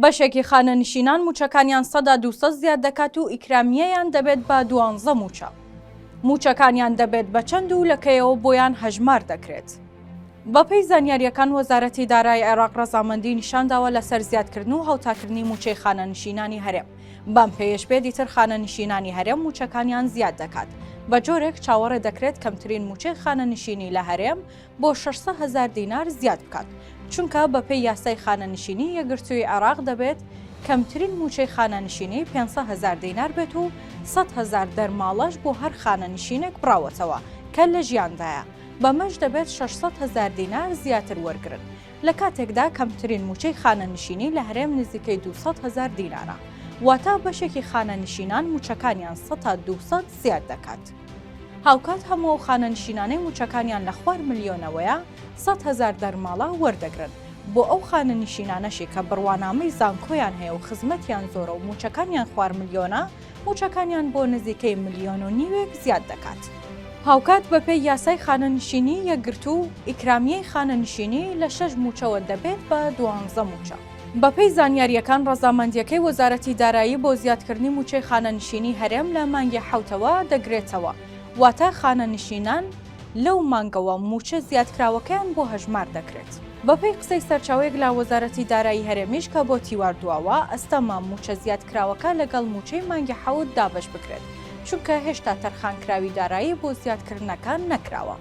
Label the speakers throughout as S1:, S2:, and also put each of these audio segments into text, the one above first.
S1: بەشێکی خانەنشینان مووچەکانیان سەدا دوو سەد زیاد دەکات و ئیکرامییەیان دەبێت بە دوانزە مووچە. مووچەکانیان دەبێت بە چەند و لە کەیەوە بۆیان هەژمار دەکرێت؟ بەپێی زانیارییەکان وەزارەتی دارای عێراق ڕەزامەندی نیشانداوە لەسەر زیادکردن و هاوتاکردنی مووچەی خانەنشینانی هەرێم، بەم پێیەش بێ دیتر خانەنشینانی هەرێم مووچەکانیان زیاد دەکات، بەجۆرێک چاوەڕێ دەکرێت کەمترین مووچەی خانەنشینی لە هەرێم بۆ شەش سەد هەزار دینار زیاد بکات، چونکە بەپێی یاسای خانەنشینی یەکگرتووی عێراق دەبێت کەمترین مووچەی خانەنشینی پێنج سەد هەزار دینار بێت و سەد هەزار دەرماڵەش بۆ هەر خانەنشینێک بڕاوەتەوە کە لە ژیاندایە، بەمەش دەبێت شەش سەد هەزار دینار زیاتر وەرگرن، لە کاتێکدا کەمترین مووچەی خانەنشینی لە هەرێم نزیکەی دوو سەد هەزار دینارە، واتە بەشێکی خانەنشینان مووچەکانیان سەتا دوو سەد زیاد دەکات. هاوکات هەموو ئەو خانەنشینانەی مووچەکانیان لە خوار ملیۆنەوەیە، سەد هەزار دەرماڵە وەردەگرن. بۆ ئەو خانەنشینانەشی کە بڕوانامەی زانکۆیان هەیە و خزمەتیان زۆرە و مووچەکانیان خوار ملیۆنە، مووچەکانیان بۆ نزیکەی ملیۆن و نیوێک زیاد دەکات. هاوکات بەپێی یاسای خانەنشینیی یەکگرتوو، ئیکرامیەی خانەنشینی لە شەش مووچەوە دەبێت بە دوانزە مووچە. بەپێی زانیارییەکان ڕەزامەندییەکەی وەزارەتی دارایی بۆ زیادکردنی مووچەی خانەنشینی هەرێم لە مانگی حەوتەوە دەگرێتەوە، واتە خانەنشینان لەو مانگەوە مووچە زیادکراوەکەیان بۆ هەژمار دەکرێت. بەپێی قسەی سەرچاوەیەک لە وەزارەتی دارایی هەرێمیش کە بۆ تیوار دواوە، ئەستەمە مووچە زیادکراوەکە لەگەڵ مووچەی مانگی حەوت دابەش بکرێت، چونکە هێشتا تەرخانکراوی دارایی بۆ زیادکردنەکە نەکراوە.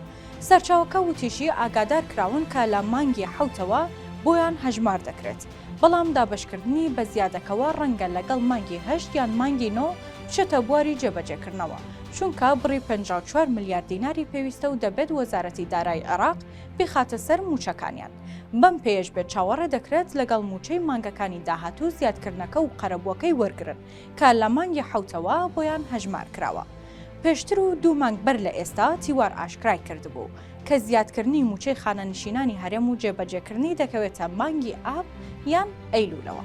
S1: سەرچاوەکە وتیشی ئاگادارکراون کە لە مانگی حەوتەوە بۆیان هەژمار دەکرێت، بەڵام دابەشکردنی بە زیادەکەوە ڕەنگە لەگەڵ مانگی هەشت یان مانگی نۆ بچێتە بواری جێبەجێکردنەوە، چونکە بڕی پەنجا و چوار ملیار دیناری پێویستە و دەبێت وەزارەتی دارایی عێراق بیخاتە سەر مووچەکانیان، بەم پێیەش بێت چاوەڕێ دەکرێت لەگەڵ مووچەی مانگەکانی داهاتوو زیادکردنەکە و قەرەبووەکەی وەرگرن. کە لە مانگی حەوتەوە بۆیان هەژمار کراوە. پێشتر و دوو مانگ بەر لە ئێستا تیوار ئاشکرای کردبوو، کە زیادکردنی مووچەی خانەنشینانی هەرێم و جێبەجێکردنی دەکەوێتە مانگی ئاب یان ئەیلوولەوە.